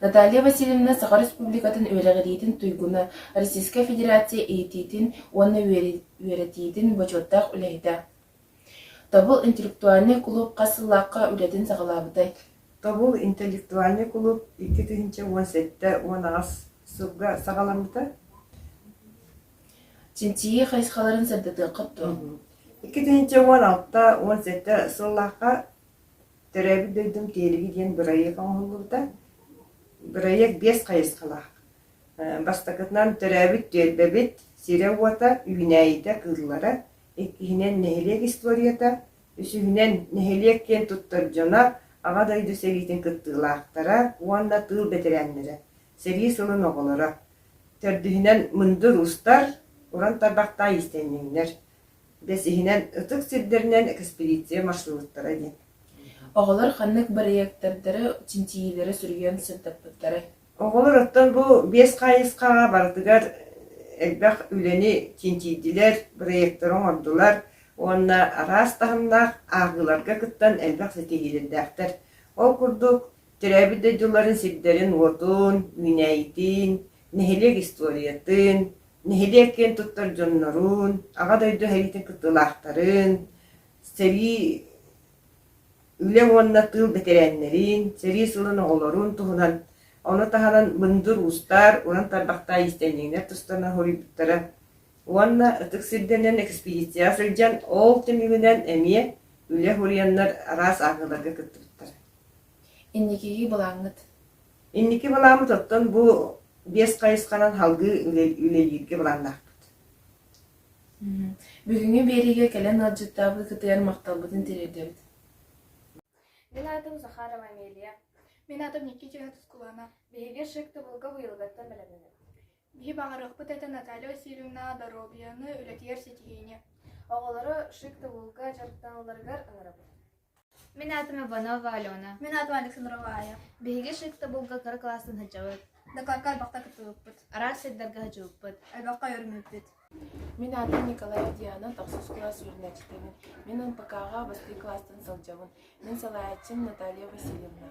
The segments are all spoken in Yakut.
Наталья Васильевна Саха Республикатын үөрэҕириитин туйгуна, Российскай Федерация иитиитин уонна үөрэтиитин бочуоттаах үлэһитэ. Тобул интеллектуальнай кулууп хас сыллаахха үлэтин саҕалаабытай? Тобул интеллектуальнай кулууп икки тыһыынча уон сэттэ уон аҕыс сылга саҕаламмыта. Чинчийии хайысхаларын сырдатыаххыт дуо? Икки тыһыынча уон алта уон сэттэ сыллаахха Төрөөбүт дойдум Тиһилиги диэн бырайыак оҥоһуллубута. Бырайыак биэс хайысхалаах. Бастакытынан төрөөбүт түөлбэбит сирэ-уота, үүнээйитэ кыыллара, иккиһинэн нэһилиэк историята, үсүһүнэн нэһилиэк киэн туттар дьоно Аҕа дойду сэриитин кыттыылаахтара уонна тыыл бэтэрээннэрэ, сэрии сылын оҕолоро. Төрдүһүнэн мындыр устар, уран тарбахтаах иистэнньэҥнэр. Бэс иһинэн ытык сирдэринэн экспедиция маршруттара диэн. Оҕолор ханнык бырайыактардары, чинчийиилэри суруйан сырдаппыттарай? Оҕолор оттон бу биэс хаайысхаҕа барытыгар элбэх үлэни чинчийдилэр, бырайыактары оҥордулар уонна араас таһымнаах ааҕыыларга кыттан элбэх ситиһиилэрдээхтэр. Ол курдук, төрөөбүт дойдуларын сирдэрин-уотун, үүнээйитин, нэһилиэк историятын, нэһилиэк киэн туттар дьоннорун, Аҕа дойду сэриитин кыттыылаахтарын, сэрии үлэ уонна тыыл бэтэрээннэрин, сэрии сылын оҕолорун туһунан, ону таһынан мындыр уустар, уран тарбахтаах иистэнньэҥнэр тустарынан хоруйбуттара уонна ытык сирдэринэн экспедицияҕа сылдьан ол түмүгүнэн эмиэ үлэ хоруйаннар араас ааҕыыларга кыттыбыттара. Инникиги былааҥҥыт? Инники былааммыт оттон бу биэс хайысханан салгыы үлэлииргэ былааннаахпыт. Бүгүҥҥү биэриигэ кэлэн ыалдьыттаабыт кытыйар махталбытын тириэрдэбит. Мин аатым Захарова Амелия. Мин аатым Никитина Тускулана. Биһиги Шик Тубулга уйулгаттан бэлэмнэнэбит. Биһи баҕарыахпыт этэ Наталья Васильевна доруобуйаны үлэтигэр ситиһиини. Оҕолору Шик Тубулга дьарыктаналларыгар ыҥырабыт. Мин аатым Иванова Алена. Мин аатым Александрова Аайа. Биһиги Шевтобулга кыра классын сылдьабыт. Дакаакка элбэхтэ кыттыбыппыт. Араас сирдэргэ сылдьыбыппыт. Элбэххэ үөрэммиппит. Мин аатым Николая Диана, тахсыс кылаас үөрэнээччитибин. Мин НПК-ҕа бастыы класстан сылдьабын. Мин салайааччым Наталья Васильевна.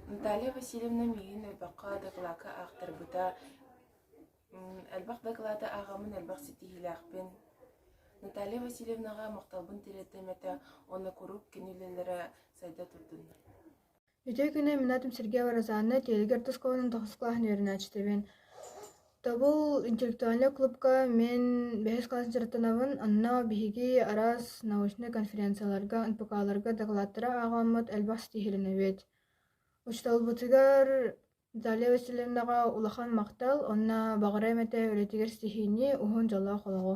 Наталья Васильевна миигин элбэххэ дакылаакка аахтарбыта, Элбэх дакылааты ааҕаммын элбэх ситиһиилээхпин. Наталья Васильевнаҕа махталбын тириэрдэммитэ уонна куруук кини үлэлэрэ сайда турдуннар. Үтүө күнү мин аатым Сергеева Розанна, Тиэлигэр орто оскуоланан тоҕус кылааһын үөрэнээччитибин. Тобул интеллектуальнай клубка мин бэһис кылаас дьарыктанабын, онно биһиги араас научнай конференцияларга, НПК-ларга дакылааттары ааҕаммыт элбэх ситиһилэнэбит. Учууталбытыгар Даля васильевнаҕа улахан махтал уонна баҕара эмэтэ үлэтигэр сиһиини, уһун дьолоох олоҕу.